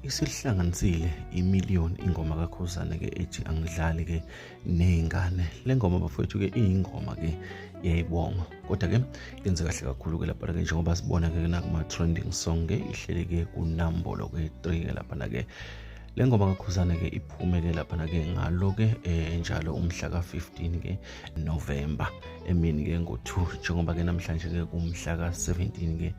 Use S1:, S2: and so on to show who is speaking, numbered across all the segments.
S1: isihlanganisile imillion ingoma kakhuzane ke ethi angidlali ke nezingane le ngoma bafowethu ke iyingoma ke yayibonga kodwa ke yenze kahle kakhulu ke lapha ke njengoba sibona ke nakuma trending song ke ihlele ke kunambolo ke 3 ke lapha ke le ngoma kakhuzane-ke iphume-ke laphana-ke ngalo-ke um njalo umhla ka-15-ke novemba emini-ke ngo-two njengoba-ke namhlanje-ke kumhla ka-17-ke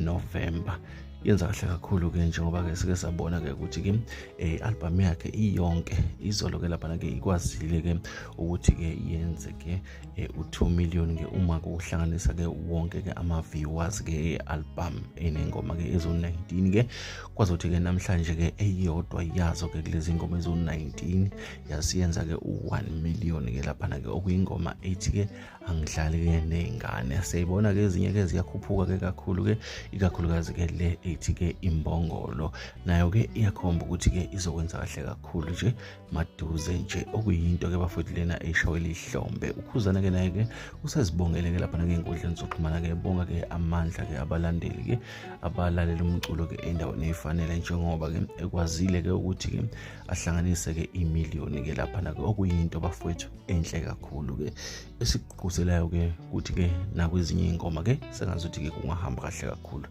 S1: novemba yenza kahle kakhulu-ke njengoba-ke sike sabona-ke ukuthi-ke um eh, albhamu yakhe iyonke izolo-ke laphana-ke ikwazile-ke ukuthi-ke yenze-ke eh, u-2 million ke uma kuhlanganisa ke wonke ke ama-viewers ke e-album enengoma ke ezo-19 ke kwazothi ke namhlanje ke eyodwa yazo ke kulezi ngoma ezo-19 yasiyenza ke u-1 million ke laphana ke okuyingoma ethi ke angihlali ke ney'ngane siyayibona ke ezinye ke ziyakhuphuka ke kakhulu ke ikakhulukazi ke le ethi ke imbongolo nayo ke iyakhomba ukuthi ke izokwenza kahle kakhulu nje maduze nje okuyinto ke bafowethu lena eshawe lihlombe ukhuzana ke naye ke usezibongele ke lapha nangey'nkundleni zokuxhumana ke bonga ke amandla ke abalandeli ke abalalela umculo ke endaweni efanele njengoba ke ekwazile ke ukuthi ke ahlanganise ke imiliyoni ke lapha nake okuyinto bafowethu enhle kakhulu ke esikugquzelayo ke ukuthi ke nakwezinye iy'ngoma ke sengazuthi ke kungahamba kahle kakhulu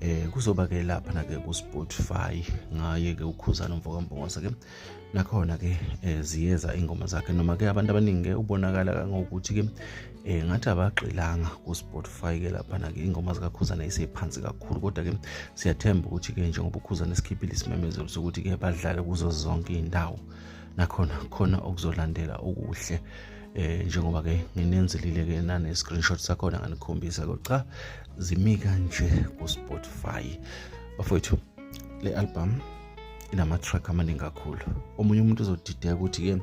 S1: um kuzoba ke lapha nake ku-spotify ngaye ke ukhuzana umfokampongose ke nakhona ke eh, ziyeza ingoma zakhe noma ke abantu abaningi ke ubonakala kangokuthi ke eh ngathi abagxilanga ku Spotify ke lapha na ke ingoma zika Khuzana isephansi kakhulu kodwa ke siyathemba ukuthi ke njengoba uKhuzana esikhiphile isimemezelo sokuthi ke badlale kuzo zonke indawo nakhona khona okuzolandela okuhle eh njengoba ke nginenzilile ke nane screenshot sakhona nganikhombisa kodwa zimika nje ku Spotify bafowethu le album inama-track amaningi kakhulu omunye umuntu uzodideka ukuthi-ke um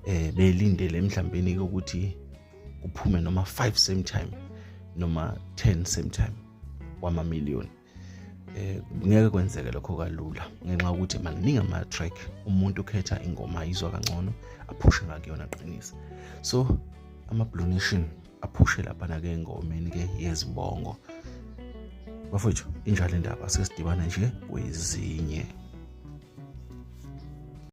S1: eh, belindele emhlambeni-ke ukuthi kuphume noma 5 same time noma 10 same time wamamiliyoni eh ngeke kwenzeke lokho kalula ngenxa ukuthi maningi ama track umuntu ukhetha ingoma ayizwa kangcono aphushe ngakuyona qinisa so ama blue nation aphushe laphana ke engomeni ke yezibongo bafowethu injalo indaba sesidibana nje kwezinye